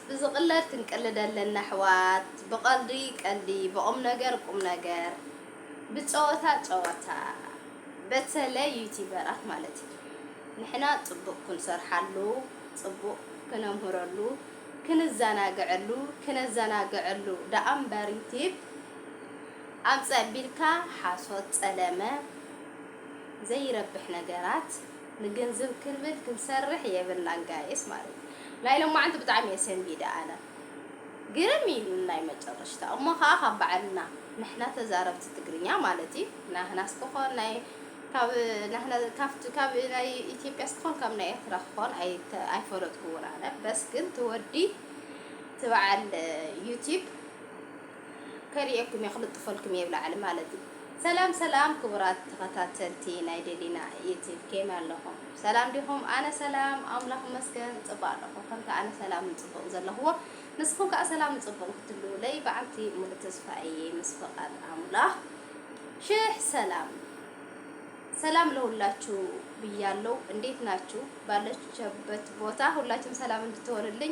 ብዝቅለድ ክንቅልድ ኣለና ኣሕዋት ብቀልዲ ቀልዲ ብቁምነገር ቁምነገር ብጸወታ ጸወታ በተለይ ዩቲበራት ማለት እዩ ንሕና ጽቡቅ ክንሰርሓሉ ጽቡቅ ክነምህረሉ ክንዛናገዐሉ ክነዛናገዐሉ ደኣ እምበር ዩቲብ ኣምጽእ ኣቢልካ ሓሶት ጸለመ ዘይረብሕ ነገራት ንግንዝብ ክንብል ክንሰርሕ የብልናን ጋይስ ማለት እዩ ናይ ሎማዓንቲ ብጣዕሚ እየ ሰንቢደ ኣነ ግርም እዩ ኢሉኒ ናይ መጨረሽታ እሞ ካኣ ካብ ባዓልና ንሕና ተዛረብቲ ትግርኛ ማለት እዩ ናህናስ ክኮን ናይ ካብ ናህና ካብቲ ካብ ናይ ኢትዮጵያስ ክኮን ካብ ናይ ኤርትራ ክኮን ኣይፈለጥኩዎን ኣነ በስ ግን ትወዲ ትባዓል ዩቲብ ከርእየኩም እየ ክልጥፈልኩም እየ ብላዕሊ ማለት እዩ። ሰላም ሰላም ክቡራት ተኸታተልቲ ናይ ደሊና ዩቲብ ኬመይ ኣለኹም ሰላም ዲኹም ኣነ ሰላም ኣምላኽ ይመስገን ጽቡቅ ኣለኹ ከምቲ ኣነ ሰላምን ጽቡቅን ዘለኹዎ ንስኹም ከኣ ሰላምን ጽቡቅን ክትህልዉለይ ብዓልቲ ሙሉ ተስፋ እየ ምስ ፍቃድ ኣምላኽ ሽሕ ሰላም ሰላም ለሁላችሁ ብያለው። እንዴት ናችሁ? ባለችበት ቦታ ሁላችሁም ሰላም እንድትሆንልኝ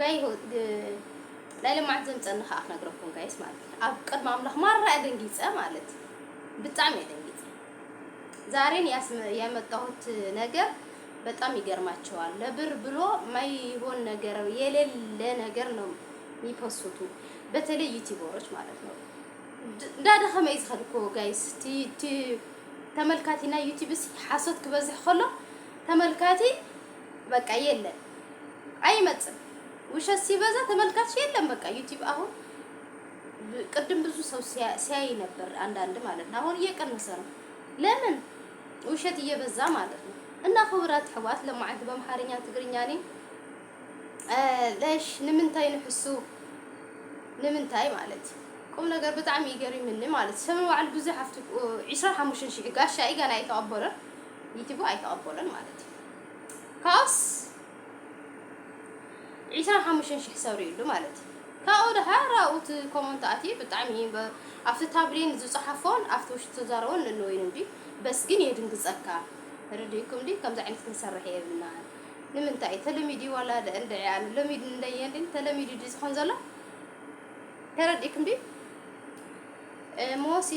ጋይ ሆት ግን ናይ ለማዓንቲ ዘምጸኒ ካኣ ክነግረኩም ጋይስ ማለት ኣብ ቅድሚ ኣምላኽ ማራ እየ ደንጊጸ ማለት ብጣዕሚ እየ ደንጊጸ ዛሬን ያመጣሁት ነገር በጣም ይገርማቸዋል ለብር ብሎ ማይሆን ነገር የሌለ ነገር ነው የሚፖስቱ በተለይ ዩቲዩበሮች ማለት ነው። እንዳደኸመ እዩ ዝኸድ እኮ ጋይስ ተመልካቲና ዩቲዩብስ ሓሶት ክበዝሕ ከሎ ተመልካቲ በቃ የለን ኣይመጽን ውሸት ሲበዛ ተመልካች የለን በቃ ዩቲብ አሁን ቅድም ብዙ ሰው ሲያይ ነበር አንዳንድ ማለት ነው። አሁን እየቀነሰ ነው። ለምን ውሸት እየበዛ ማለት ነው። እና ክቡራት ሕዋት ለማዓንቲ በምሓርኛ ትግርኛ ኒ ለሽ ንምንታይ ንሕሱ ንምንታይ ማለት እዩ ቁም ነገር ብጣዕሚ ይገሪምኒ ማለት ሰበ ባዕሉ ብዙሕ ኣብቲ 25 ሽሕ ጋሻ እዩ ገና ኣይተቐበሎን ዩቱቡ ኣይተቐበሎን ማለት እዩ ካብኡስ ዒስራን ሓሙሽተን ሽሕ ሰብ ሪኡሉ ማለት እዩ ካብኡ ድሓር ኣብኡ እቲ ኮመንት ኣትዩ ብጣዕሚ ኣብቲ ታብሊን ዝፀሓፎን ኣብቲ ውሽጢ ተዛረቦን ንንወይኑ እንዲ በስ ግን የድንግፀካ ርድኢኩም እንዲ ከምዚ ዓይነት ክንሰርሕ የብልና ንምንታይ ተለሚዲ ዋላ እንድዒ ኣነ ሎሚድ እንደየ እንዲ ተለሚዲ ዲ ዝኾን ዘሎ ተረዲእኩም ዲ ሞሲ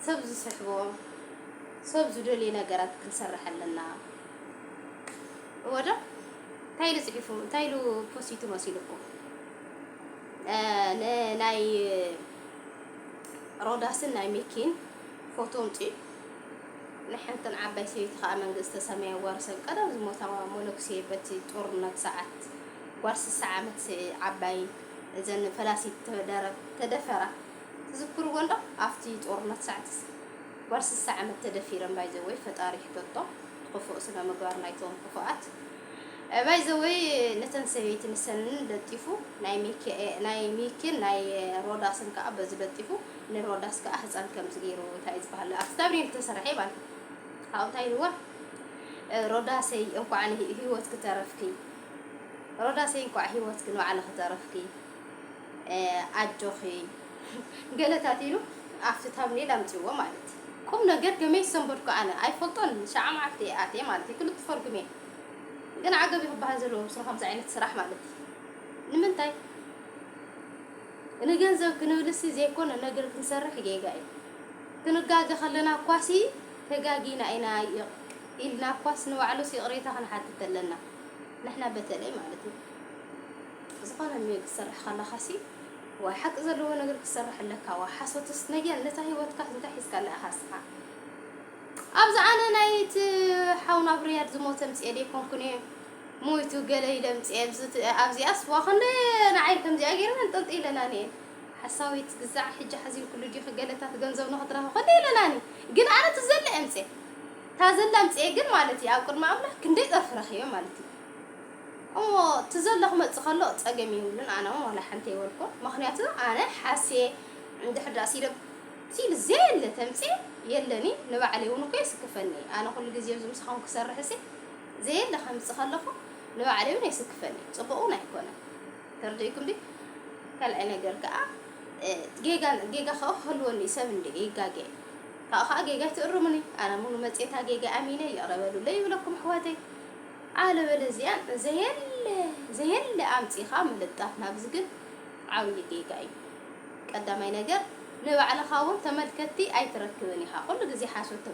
ሰብ ዝስሕቦ ሰብ ዝደልዮ ነገራት ክንሰርሕ ኣለና እወ ዶ እንታይ ኢሉ ጽሒፉ እንታይ ኢሉ ፖሲቱ መሲልኩም ንናይ ሮዳስን ናይ ሚኪን ፎቶ ኣምጺኡ ንሓንትን ዓባይ ሰበይቲ ከዓ መንግስተ ሰማይ ያዋርሰን ቀደም ዝሞታ ሞሎክሴ በቲ ጦርነት ሰዓት ጓል ስሳ ዓመት ዓባይ እዘን ፈላሲት ተደፈራ ትዝክርዎ'ዶ ኣብቲ ጦርነት ሳዕትስ ጓል ስሳ ዓመት ተደፊረን ባይዘወይ ፈጣሪ ይሕተቶ ንክፉእ ስነምግባር ናይቶም ክፉኣት ባይዘወይ ነተን ሰበይቲ ንሰን ለጢፉ ናይ ሚኪን ናይ ሮዳስን ከኣ በዚ ለጢፉ ንሮዳስ ከኣ ህፃን ከምዚ ገይሩ እንታይ እዩ ዝበሃል ኣብቲ ታብሪን ዝተሰርሐ ማለት ካብኡ እንታይ ኢልዋ ሮዳሰይ እንኳዕ ህይወት ክተረፍኪ ሮዳሰይ እንኳዕ ህይወት ክንባዕለ ክተረፍኪ ኣጆኺ ገለታት ኢሉ ኣብቲ ታምኔል ኣምጺዎ ማለት ቁም ነገር ገመይ ዝሰንበድኩ ኣነ ኣይፈልጦን ሸዓ መዓልቲ እየ ኣትየ ማለት እዩ ክልተ ፈርጉም እየ ግን ዓገብ እዩ ክበሃል ዘለዎ ምስሉ ከምዚ ዓይነት ስራሕ ማለት እዩ ንምንታይ ንገንዘብ ክንብልሲ ዘይኮነ ነገር ክንሰርሕ ጌጋ እዩ ክንጋገ ከለና እኳሲ ተጋጊና ኢና ኢልና እኳስ ንባዕሉስ ይቕሬታ ክንሓትት ኣለና ንሕና በተለይ ማለት እዩ ዝኾነ እንዮ ክትሰርሕ ከለኻሲ ዋይ ሓቂ ዘለዎ ነገር ክትሰርሕ ኣለካ ዋይ ሓሶትስ ነየን ነታ ሂወትካ እንታይ ሒዝካላ ኢኻ እስኻ ኣብዚ ኣነ ናይቲ ሓውና ኣብ ርያድ ዝሞተ ምጽኤ ደይኮንኩን እየ ሞይቱ ገለ ኢለ ምጽኤ ኣብዚኣስ ዋ ክንደ ንዓይ ከምዚኣ ገይረን ኣንጠልጢለናን እየን ሓሳዊት ግዛዕ ሕጂ ሓዚን ኩሉ ዲኺ ገለታት ገንዘብ ንኽትረኺ ክንደ ኢለናኒ ግን ኣነ ትዘለ እየ ምጽኤ ታዘላ ምጽኤ ግን ማለት እዩ ኣብ ቅድሚ ኣምላኽ ክንደይ ጸርፊ ረኺበ ማለት እዩ እሞ ትዘሎ ክመጽእ ከሎ ጸገም የብሉን ኣነ ውን ዋላ ሓንቲ ኣይበልኩን መክንያቱ ኣነ ሓስየ እንድሕር ድኣ ሲደብ ሲል ዘየለ ተምጽየ የለን ኢዩ ንባዕለይ ውን እኮ የስክፈኒ ኢዩ ኣነ ኩሉ ግዜ ኣብዚ ምሳኩም ክሰርሕሲ ዘየለ ከምጽእ ከለኩ ንባዕለይ ውን የስክፈኒ ኢዩ ጽቡቅ ውን ኣይኮነን ተርዲኢኩም ድዩ ካልኣይ ነገር ከኣ ጌጋ ጌጋ ከኣ ክህልወኒ ኢዩ ሰብ እንድየ ይጋገየ ካብኡ ከኣ ጌጋይ ትእርሙኒ ኣነ ውን መጽየ እታ ጌጋይ ኣሚነ ይቅረ በሉለይ ይብለኩም ኣሕዋተይ ኣለበለዚያ ዘየለ ዘየለ ኣምጺኻ ምልጣፍ ናብዚ ግን ዓብዪ ጌጋ እዩ። ቀዳማይ ነገር ንባዕልኻ እውን ተመልከትቲ ኣይትረክብን ኢኻ ኩሉ ግዜ ሓሶት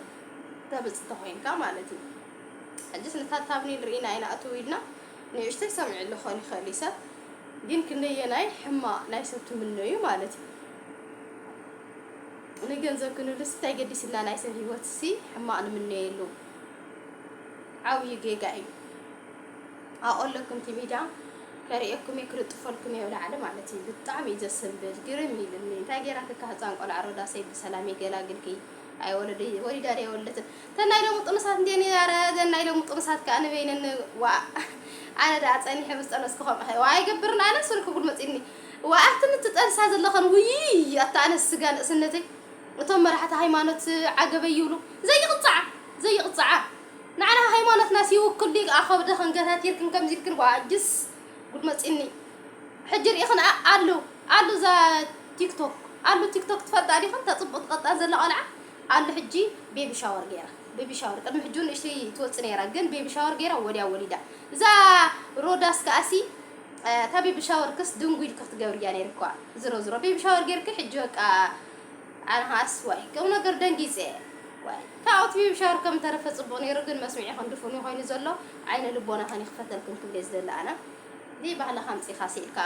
ተምጽእ ተኾይንካ ማለት እዩ። ሕጅስ ነታ ታብኔል ርኢና ኢና እትው ኢልና ንእሽተይ ሰሚዕሉ ክኾን ይኽእል እዩ ሰብ ግን ክንደየናይ ሕማቕ ናይ ሰብ ትምነዩ ማለት እዩ። ንገንዘብ ክንብልሲ እንታይ ገዲስና ናይ ሰብ ሂወትሲ ሕማቕ ንምነየሉ ዓብዩ ጌጋ እዩ ኣቆለኩም ቲቪ ዳም ከርእየኩም እየ ክልጥፈልኩም እየ ላዕሊ ማለት እዩ ብጣዕሚ እዩ ዘስንብል ግርም ኢልኒ እንታይ ጌራትካ ህፃን ቆልዓ ሮዳሰይ ብሰላም ይገላግልኪ ኣይወለደ ወሊዳ ዶ የወለትን ተናይ ሎሚ ጥኑሳት እንዴ ኧረ ዘናይ ሎሚ ጥኑሳት ከዓ ንበይነን ዋ ኣነ ደኣ ፀኒሐ ምስ ጠነስኩ ከምኡ ከ ዋይ ገብርን ኣነ ሱሪ ክጉልመፅኒ ዋ ኣቲ ምትጠንሳ ዘለኸን ውይ ኣታ ኣነ ስጋ ንእስነተይ እቶም መራሕቲ ሃይማኖት ዓገበይ ይብሉ ዘይቕጻዓ ዘይቕጻዓ ንዓና ሃይማኖትናስ ይውክል ድዩ ክኣ ከብድኽን ገታቲርክን ከምዚ ኢልክን ዋጅስ ጉድ መጺኒ ሕጂ ሪኢኽን ኣእ ኣሉ ኣሉ እዛ ቲክቶክ ኣሉ ቲክቶክ ትፈልጣ ዲኽን እታ ጽቡቕ ትቐጣን ዘላ ቆልዓ ኣሉ ሕጂ ቤቢ ሻወር ጌራ ቤቢ ሻወር ቅድሚ ሕጂ ውን ንእሽተይ ትወጽእ ኔራ ግን ቤቢ ሻወር ጌራ ወዲያ ወሊዳ እዛ ሮዳስ ክኣሲ እታ ቤቢ ሻወርክስ ድንጉይል ክትገብርያ ኔርክዋ ዝሮ ዝሮ ቤቢ ሻወር ጌርኪ ሕጂ በቃ ኣነ ከኣ እሱይ ቁም ነገር ደንጊጸ ዋይ ካብ ኣውትቢብ ሻወር ከም ተረፈ ጽቡቅ ኔሩ ግን መስሚዒክን ድፉን ዩ ኮይኑ ዘሎ ዓይነ ልቦናክን ይክፈተልክን ክብሌ ዝደሊ ኣነ ዘይባህልካ ኣምጺካስ ኢልካ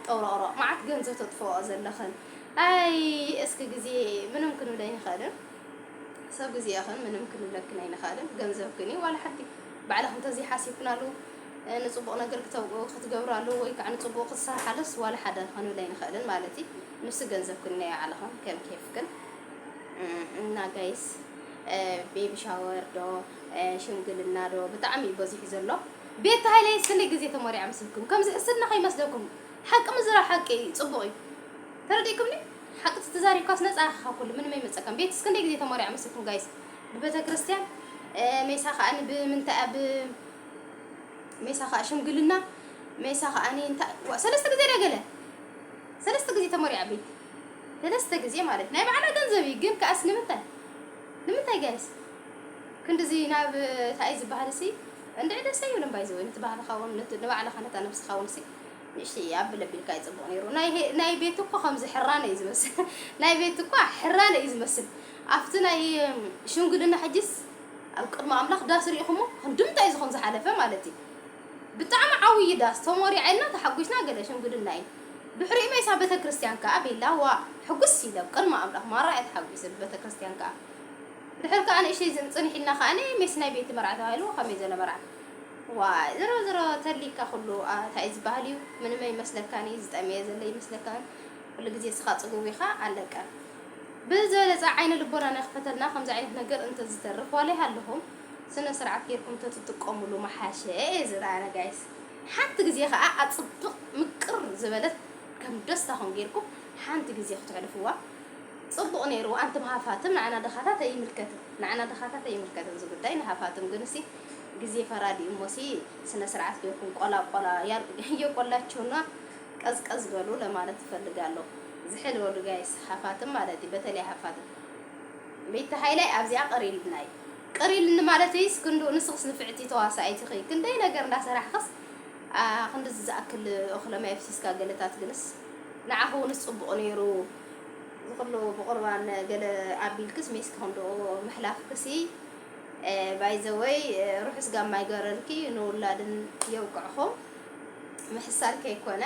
ጠውሮቅሮቅ መዓት ገንዘብ ተጥፍኦ ዘለክን ኣይ እስኪ ግዜ ምንም ክንብለ ኣይንክእልን ሰብ ግዜክን ምንም ክንብለክን ኣይንክእልን ገንዘብክን ዩ ዋላ ሓንቲ ባዕልክን ተዘይ ሓሲብክናሉ ንጽቡቅ ነገር ክትገብራሉ ወይ ከዓ ንጽቡቅ ክትሰርሓሉስ ዋላ ሓደ ክንብለ ኣይንክእልን ማለት እዩ ንሱ ገንዘብ ክንዮ ኣለኹም ከም ኬፍክን እና ጋይስ ቤቢ ሻወር ዶ ሽምግልና ዶ ብጣዕሚ እዩ በዚሑ ዘሎ ቤት ሃይለ ስለ ግዜ ተመሪዓ ምስልኩም ከም ዝሕስድና ከይመስለኩም ሓቂ ምዝራብ ሓቂ እዩ ፅቡቕ እዩ ተረዲእኩምኒ ሓቂ ተዛሪብካስ ነፃ ኢኻ ካብ ኩሉ ምንም ኣይመፀካን ቤት እስከ እንደይ ግዜ ተመሪዓ ምስልኩም ጋይስ ብቤተ ክርስቲያን ሜሳ ከዓ ብምንታይ ኣብ ሜሳ ከዓ ሽምግልና ሜሳ ከዓ እንታይ ሰለስተ ግዜ ደገለ ሰለስተ ግዜ ተመሪዓ ቤቲ ሰለስተ ግዜ ማለት ናይ ባዕላ ገንዘብ እዩ ግን ከኣስ ንምንታይ ንምንታይ ጋይስ ክንድዚ ናብ ታይ ዝበሃል ሲ እንድዒ ደስ ኣይብልን ባይ ዘወይ ነቲ ባህልኻ ውን ንባዕልኻ ነታ ነብስኻ ውን ሲ ንእሽተይ ኣብል ኣቢልካ ይጽቡቕ ነይሩ ናይ ቤቲ እኮ ከምዚ ሕራነ እዩ ዝመስል ናይ ቤቲ እኳ ሕራነ እዩ ዝመስል ኣብቲ ናይ ሽምግልና ሕጅስ ኣብ ቅድሚ ኣምላኽ ዳስ ሪኢኹሞ ክንዲ ምንታይ እዩ ዝኹም ዝሓለፈ ማለት እዩ ብጣዕሚ ዓውዪ ዳስ ተሞሪዓ ኢልና ተሓጒስና ገለ ሽምግልና እዩ ድሕሪኡ ሜሳ ቤተክርስትያን ከኣ ቤላ ዋእ ሕጉስ ኢለ ቅድሚ ኣምላኽ ማራ እያ ተሓጒሰ ብቤተክርስትያን ከኣ ድሕሪ ከኣ ንእሽተይ ጽንሕ ኢልና ከኣ ሜስ ናይ ቤቲ መርዓ ተባሂሉ ከመይ ዘለ መርዓ ዋይ ዝሮ ዝሮ ተሊካ ኩሉ ታይ እዩ ዝባሃል እዩ ምንም ኣይመስለካን እዩ ዝጠመየ ዘለ ይመስለካን ኩሉ ግዜ እስኻ ጽጉብ ኢኻ ኣለቀ ብዝበለጸ ዓይነ ልቦናና ይኽፈተልና ከምዚ ዓይነት ነገር እንተዝተርፍ ዋላ ይሃለኹም ስነ ስርዓት ጌርኩም ተትጥቀሙሉ ምሓሸ እየ ዝብል ኣነ guys ሓንቲ ግዜ ከኣ ኣጽብቅ ምቅር ዝበለት ከም ደስታኹም ጌርኩም ሓንቲ ግዜ ክተሕልፍዋ ጽቡቅ ኔሩ ኣንትም ሃፋትም ንዓና ድኻታት ኣይምልከትን ንዓና ድኻታት ኣይምልከትን እዚ ጉዳይ ንሃፋትም ግንሲ ግዜ ፈራዲ እዩ እሞሲ ስነ ስርዓት ጌርኩም ቆላ ቆላ የቆላችሁና ቀዝቀዝ በሉ ለማለት እፈልጋለሁ ዝሕል በሉ ጋይስ ሃፋትም ማለት እዩ በተለይ ሃፋትም ቤተ ሃይላይ ኣብዚኣ ቀሪልና እዩ ቅር ኢልኒ ማለተይስ ክንድኡ ንስኽስ ንፍዕቲ ተዋሳኢት ኢኺ ክንደይ ነገር እንዳሰራሕኽስ ክንድዚ ዝኣክል እኽለ ማይ ኣፍሲስካ ገለታት ግንስ ንዓኺ ውንስ ጽቡቕ ኔሩ ዝኹሉ ብቑርባን ገለ ኣቢልክስ ሜስኪ ክንድኡ ምሕላፍክሲ ባይዘወይ ርሑስ ጋማ ይገረልኪ ንውላድን የብቅዕኹም ምሕሳር ከይኮነ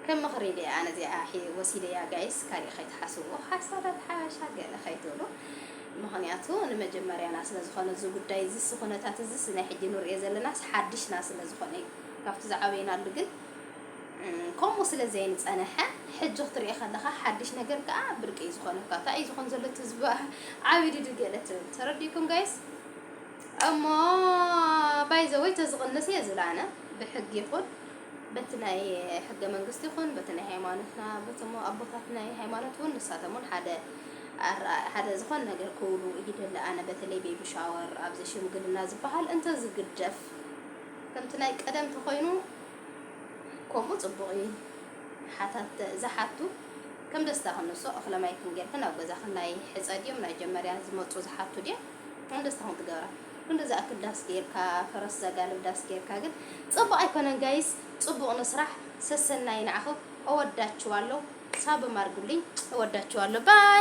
ከም ምኽሪ ድየ ኣነ እዚኣ ወሲደያ ጋይስ ካሊእ ከይትሓስብዎ ሓሳዳት ሓበሻ ገለ ከይትብሉ ምኽንያቱ ንመጀመርያና ስለ ዝኾነ እዚ ጉዳይ እዚ እዚ ኩነታት እዚ እዚ ናይ ሕጂ ንርእዮ ዘለናስ ሓድሽና ስለ ዝኾነ እዩ ካብቲ ዝዓበይናሉ ግን ከምኡ ስለ ዘይንጸነሐ ሕጂ ክትርእዮ ከለኻ ሓድሽ ነገር ከኣ ብርቂ እዩ ዝኾነካ እንታይ እዩ ዝኾን ዘሎ ትዝባ ዓቢድዱ ገለ ትብል ተረዲኩም ጋይስ እሞ ባይዘወይ ተዝቕንስ እየ ዝብል ኣነ ብሕጊ ይኹን በቲ ናይ ሕገ መንግስቲ ይኹን በቲ ናይ ሃይማኖትና በቲ ኣቦታት ናይ ሃይማኖት እውን ንሳቶም እውን ሓደ ኣረኣእያ ሓደ ዝኾነ ነገር ክብሉ ይደሊ ኣነ በተለይ ቤቢ ሻወር ኣብዚ ሽምግልና ዝባሃል እንተ ዝግደፍ ከምቲ ናይ ቀደም ተኾይኑ ከምኡ ጽቡቕ እዩ ሓታት ዝሓቱ ከም ደስታ ክንሶ እኽለ ማይ ክንጌርክን ኣብ ገዛ ክናይ ሕጸ ድዮም ናይ ጀመርያ ዝመጹ ዝሓቱ ድዮም ከም ደስታ ክንትገብራ ክንዲ ዝኣክል ዳስ ጌርካ ፈረስ ዘጋልብ ዳስ ጌርካ ግን ጽቡቕ ኣይኮነን ጋይስ ጽቡቕ ንስራሕ ሰሰናይ ንዓኹም እወዳችኋለሁ ሳብም ኣርጉልኝ እወዳችኋለሁ ባይ